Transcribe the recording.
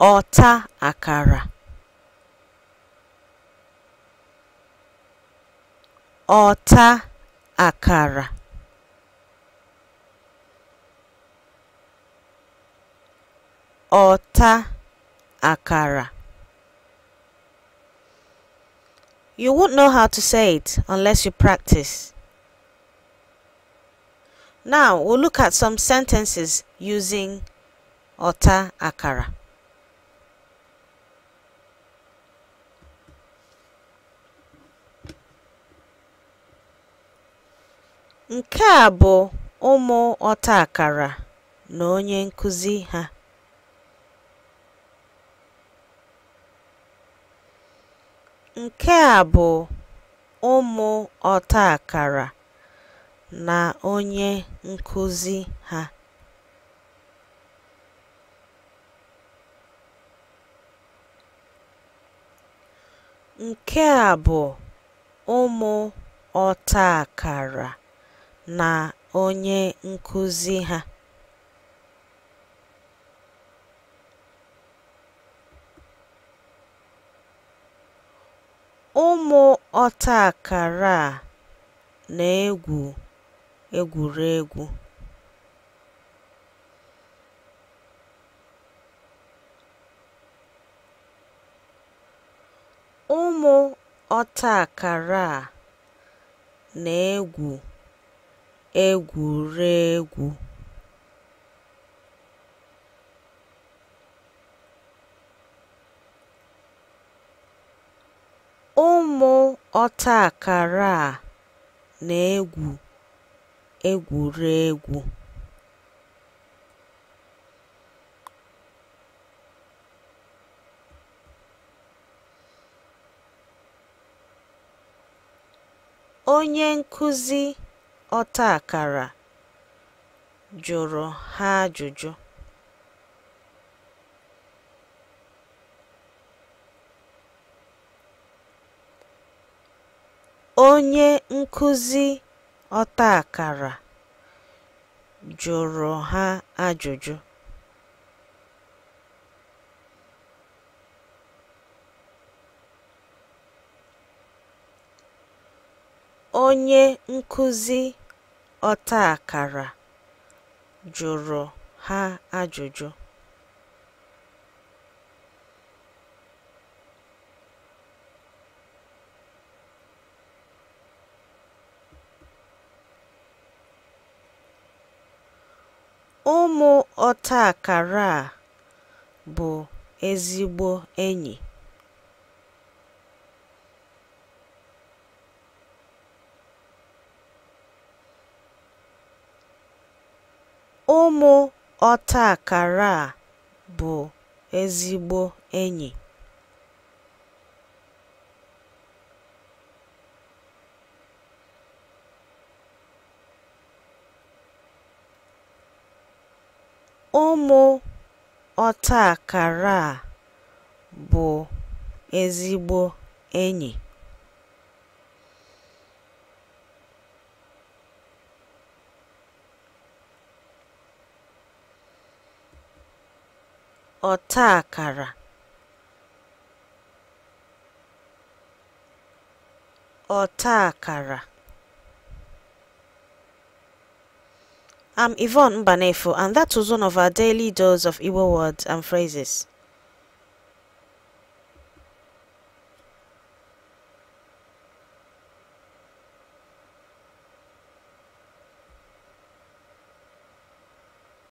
ọta akara ọta akara ọta akara You won't know how to say it unless you practice. Now, we'll look at some sentences using ọta akara. Nke a bụ ụmụ ọta akara na onye nkụzi ha. Nke a bụ ụmụ ọta akara na onye nkụzi ha. Nke a bụ ụmụ ọta akara na onye nkụzi ha. Ụmụ ọtaakara a na-egwu egwuregwu. Ụmụ ọtaakara a na-egwu egwuregwu. Ụmụ ọtaakara a na-egwu egwuregwu. Onye nkụzi ọtaakara jụrụ ha ajụjụ. Onye nkụzi ọtaakara jụrụ ha ajụjụ. Onye nkụzi ọtaakara jụrụ ha ajụjụ. Ụmụ ọtaakara a bụ ezigbo enyi. Ụmụ ọtaakara a bụ ezigbo enyi. Ụmụ ọtaakara a bụ ezigbo enyi. ọta akara ọta akara I'm Yvonne Mbanefo, and that was one of our daily dose of Igbo words and phrases.